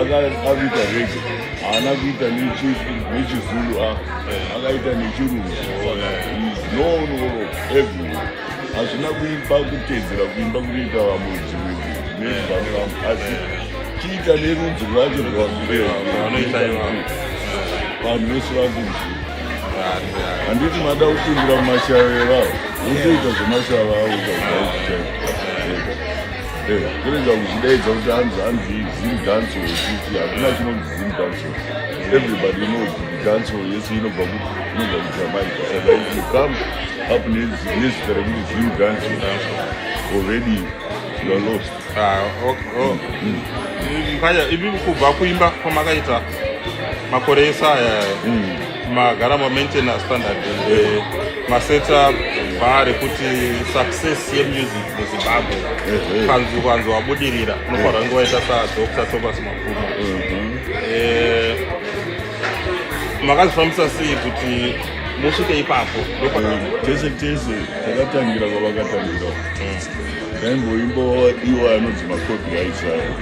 akaita rege haana kuita nechizulu akaita nechirungu noonoro every hazvina kuipa kutedzera kuimba kunoita vamudzi nevanu vangu asi chiita nerudzi rwacho rwavanoita ivavo vanhu vese vakunzi handiti mada kupindira mumashava evavo votoita zvemashava avo zvaaiiaa Eh, kurega kuchidaidza kuti hanzi hanzi zim danso yekuti hakuna chinonzi zim danso everybody knows danso yese inobva kuti inobva kujamaica and if you come up nezita rekuti zim danso already you are lost ah, mukanya mm. mm. ivi kubva kuimba kwamakaita makore ese aya mm. magara mamaintenance standard and eh, masetup bhari kuti success yemusic muzimbabwe kanzi kwanzi wabudirira unofanira kunge waita sadr thomas mapuma mhm. eh, makazvifambisa sei kuti musvike ipapo tese tese takatangira kwavakatangira ndaimboimbowadiwa anonzi makopi aisayo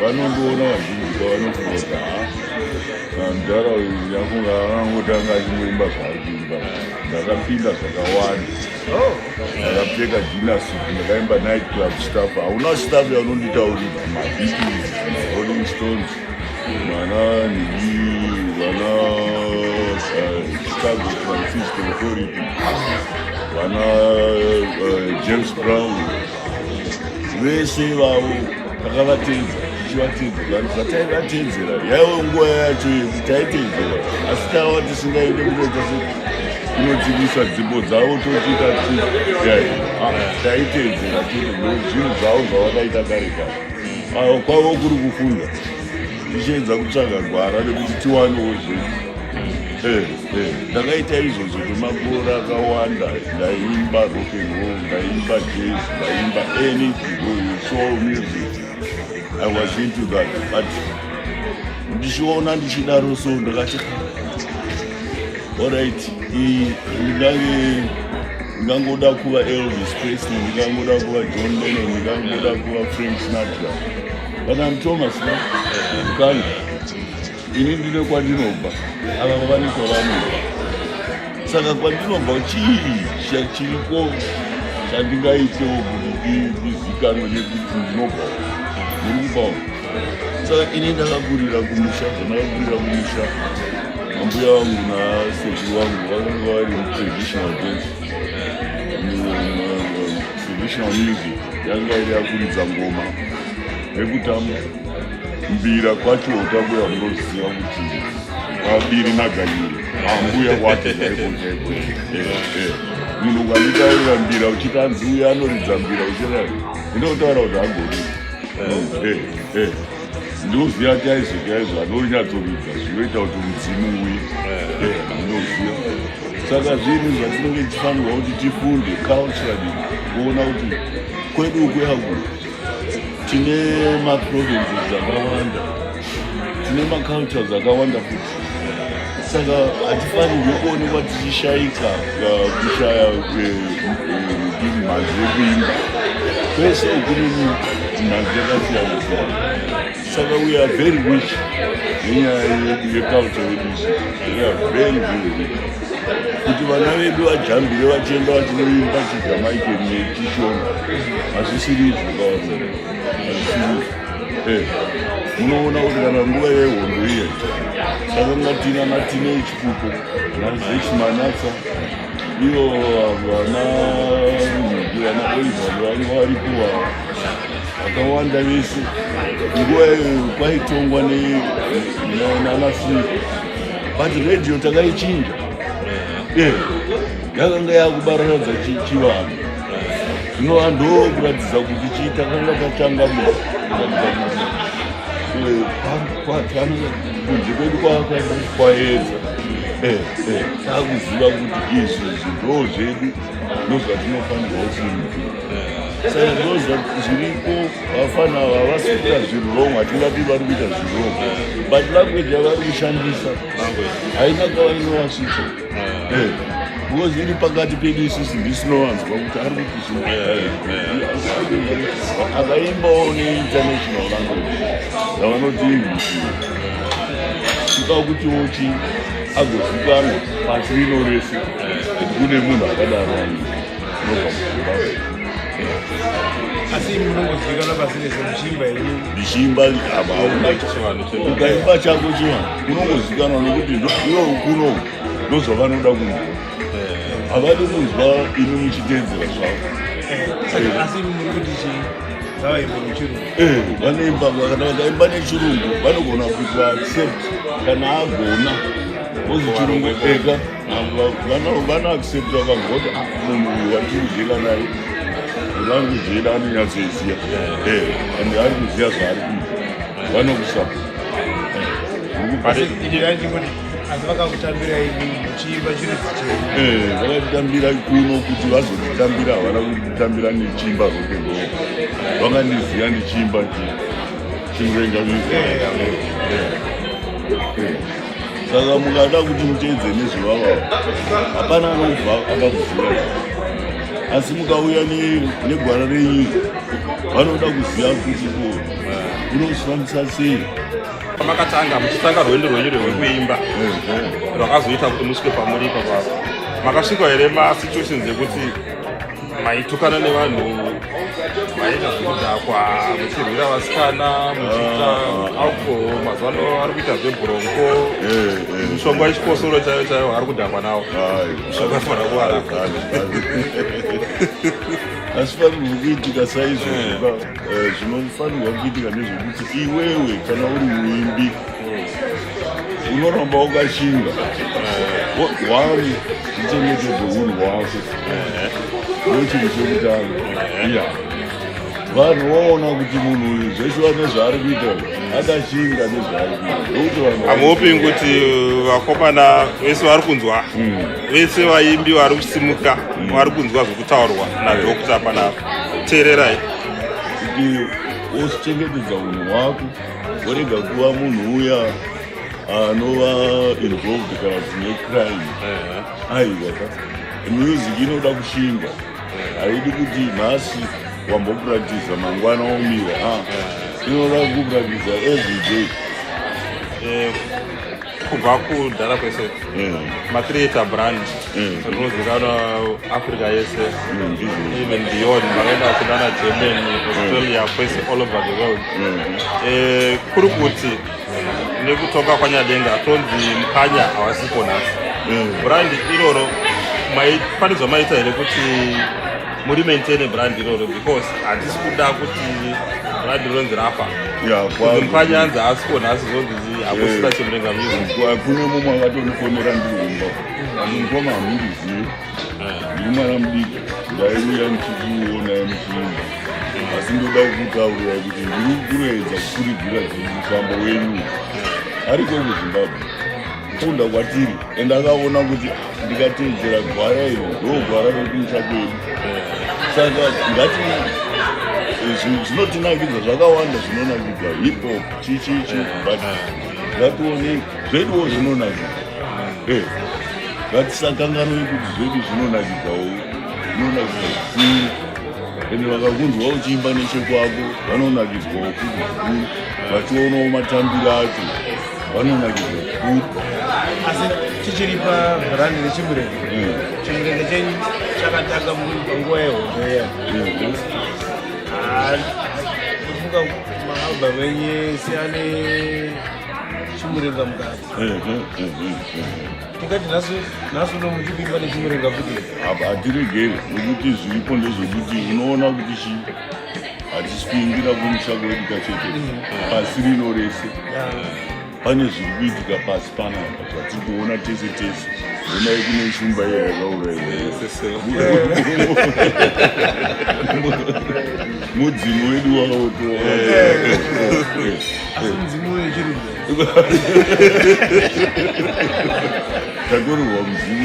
vanondiona vazhinji kwavanoti voga Mdara uyu nyakunga akangotanga achimboimba zvaaiimba ndakapinda zvakawanda oh. ndakapfeka dinasuit ndakaimba night club staff hauna staff yaunonditaurira mabeatles rolling stones mana nii vana eh, chicago francisco authority vana eh, james brown vese ivavo takavateedza tichivateedzera zvataivateedzera yaive nguva yacho yekuti taiteedzera asi tava tisingaende kunoita kunodzivisa dzimbo dzavo totiita taiteedzera tiri zvinhu zvavo zvavakaita kare kare avo kwavo kuri kufunda ndichiedza kutsvaga gwara rekuti tiwanewo zvedu eh, eh, ndakaita izvozvo kwemakore akawanda ndaimba rokenro ndaimba jaz ndaimba anythingsoul music i was into that but ndichiona ndichidaro so ndakati orit ndingange ndingangoda kuva elvis presley ndingangoda kuva john lennon ndingangoda kuva frank snatra But I'm Thomas, no? Mukanya. Ini ndine kwandinobva. Ava vane kwavanobva. Saka kwandinobva chii chachiriko chandingaitewo kuti ndizikanwe nekuti ndinobva. Ndiri kubvawo. Saka ini ndakakurira kumusha, zvandakakurira kumusha. Ambuya wangu nasekuru wangu vakanga vari traditional dance. traditional music yanga iri yakuridza ngoma rekutamba mbira kwacho utakuya munoziva kuti vabiri naganyiri ambuya wake chaikochaiko munhu ukanditaurira mbira uchitanzi uya anoridza mbira uchirai ndinotaura kuti agoni ndinoziva kuti aizvo chaizvo anonyatsoridza zvinoita kuti mudzimu uye eh. ndinoziva saka zvinhu zvatinenge tichifanirwa kuti tifunde culturally kuona kuti kwedu kuyaku tine maprovinces akawanda tine macultures akawanda futi saka hatifanirwi kuonekwa tichishaika uh, kushaya uh, uh, kudini mhanzi yekuimba kwese kune mhanzi yakasiyana siyana saka we are very rich nenyaya yedu yeculture yedu we are very very rich kuti vana vedu vajambire vachienda vachinoimba chijamaican nechishona hazvisiri izvo kawaza hazvisiri izvo Eh, munoona kuti kana nguva yehondo iye saka ngatina natine ichipuko nazechimanatsa ivo vana vana oliver vanga varipo vakawanda vese nguva iyoyo kwaitongwa nanasiri but radio takaichinja eh, yakanga yakubaranadza chivanhu zvinova ndokuratidza kuti chii takanga tatanga muatange kunze kwedu kwakaenda kwaedza eh, eh, takuziva kuti izvi zvindo zvedu ndozvatinofanirwa kuita saka ndinoziva kuti zviriko vafana ava havasi kuita zviri wrong hatingati vari kuita zviri wrong but language yavari kushandisa haina kwavainovasvitsa because iri pakati pedu isusu ndisinowanzwa kuti ari kuti zvinoakaimbawo neinternational language yavanoti english sika kuti wochi agozikanwa pasi rino rese kuti kune munhu akadaro asi munongozivikanwa pasi rese muchimba here ndichimba ukaimba chako chivanhu unongozivikanwa nokuti iwo kuno ndozvavanoda kunzwa havadi kunzwa imi muchiteedzera zvavo asi muri kuti chii vanoimba kana vakaimba nechirungu vanogona kuti vaaccept kana agona ozi chirungu ega vanoaccepta vagoti ah, munhu uyu wandiri kudyela naye vari kudyela anonyatsoiziva eh, and ari kuziva zvaari kuita vanokusapa asi vakakutambira chiimba chiri eh, vakatitambira kuno kuti vazotitambira havana kutitambira nechiimba roke ro vakandiziva nechiimba chimurenga eh, saka mukada kuti muteedze nezvevavavo hapana anobva akakuvhura asi mukauya negwara renyika vanoda kuziva kuti ko unozvifambisa sei makatanga muchitanga rwendo rwenyu rwekuimba rwakazoita kuti musvike pamuripa pavo makasvika here masituations ekuti maitukana nevanhu maita zvekudhakwa muchirwira vasikana muchiita ah. alcohol mazuva ano ari kuita zvebhurongo eh, eh. mushonga wechikosoro chaiyo chaiyo ari kudhakwa nawo mushonga fana kuwara asifanirwa kuitika saizvozvo eh. zvinofanirwa kuitika nezvekuti iwewe kana uri muimbi unoramba wakashinga one uchengetedze unhu hwako ndochinhu chekutanga ya vanhu voona kuti munhu uyu zvese vane zvaari kuita akashinga nezvaari kuitahamuopi kuti vakomana vese vari kunzwa hmm. vese vaimbi vari kusimuka hmm. vari kunzwa zvekutaurwa nadokta panapa teererai kuti wozvichengetedza unhu hwako vorega kuva munhu uya anova involved kana kuti necrime aiwa ka music inoda kushinga haidi kuti nhasi wambopractisa mangwana womira inoda kupractisa every day eh, kubva kudhara kwese mm. matreata brand mm. rinozikanwa africa yese mm, even beyond vakaenda vachidana germany australia kwese all over the world eh, kuri kuti nekutonga kwanyadenga tonzi mukanya havasipo nhasi brand iroro maifanirwa maita here kuti muri maintaine brand iroro because hatisi kuda kuti brand ronzi rafa mukanya anzi haasiko nhasi zonzi hakusina chimrenga music hakune mumwe akatonifonera ndiumba andimukoma hamundizivi ndiri mwana mudiki ndaiuya ndichikuona muchiimba asi ndoda kukutaurira kuti ndiri kuedza kukuridzira mufambo wenyu ariko kuzimbabwe kufunda kwatiri and akaona kuti ndikateedzera gwara iro ndogwara rekumusha kwedu saka ngati zvinotinakidza zvakawanda zvinonakidza hip hop chichichi but ngatione zveduwo zvinonakidza eh, ngatisakanganwe kuti zvedu zvinonakidzawo zvinonakidza zvikuru ende vakakunzwa uchiimba nechekwako vanonakidzwawo kuti zvikuru vachionawo matambiro acho vanonakidzwa zvikuru asi tichiri pabrandi rechimurenge eh. chimurenge chenyu chakatanga panguva yehondo iya eh, Maalbum enye siane chimurenga mukati. Tingati nhasi nhasi uno muchipinga nechimurenga kuti apa hatiregere nekuti zviripo ndezvekuti unoona kuti chii hatisi kuingira kumusha kwedu kachete pasi rino rese Yeah. pane zviri kuitika pasi panapa zvatiri kuona tese tese onai kune shumba iya yakaurayimudzimu wedu waototakorerwa mudzimu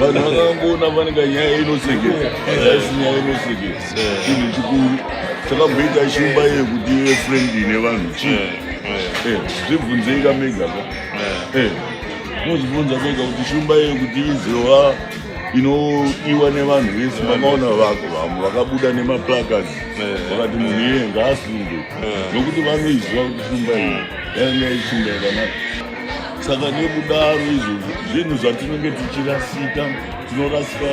vanhu vakangoona vanenge nyaya inosekesa asi nyaya inosekesa chinhu chikuru chakamboita shumba iye kuti ive frendi nevanhu chii eh, eh. eh, zvibvunzei kamega ka mozvibvunza mega kuti shumba iye kuti izova inoiwa nevanhu vese vakaona vako vamwe vakabuda nemaplacards vakati munhu iye ngaasunge nokuti vanoiziva kuti shumba iye yainga ishumba yakanaka saka nekudaro izvozvo zvinhu zvatinenge tichirasika tinorasika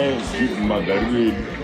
magariro edu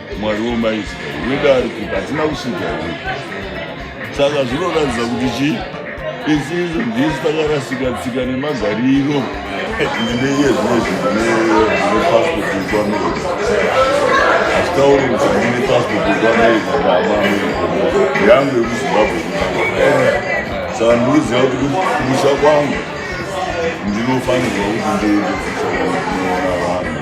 Mwari wemaizita wedu ari kuti hatina kusvika here saka zvinoratidza kuti chii isi izvo ndisu takarasika tsika nemagariro ndeiye zvimwe zvinhu nepasipoti yekwamerika hazvitauri kuti handine pasipoti yekwamerika ndaamamerika yangu yekuzimbabwe saka ndikuziva kuti kumusha kwangu ndinofanirwa kuti ndiende kumusha kwangu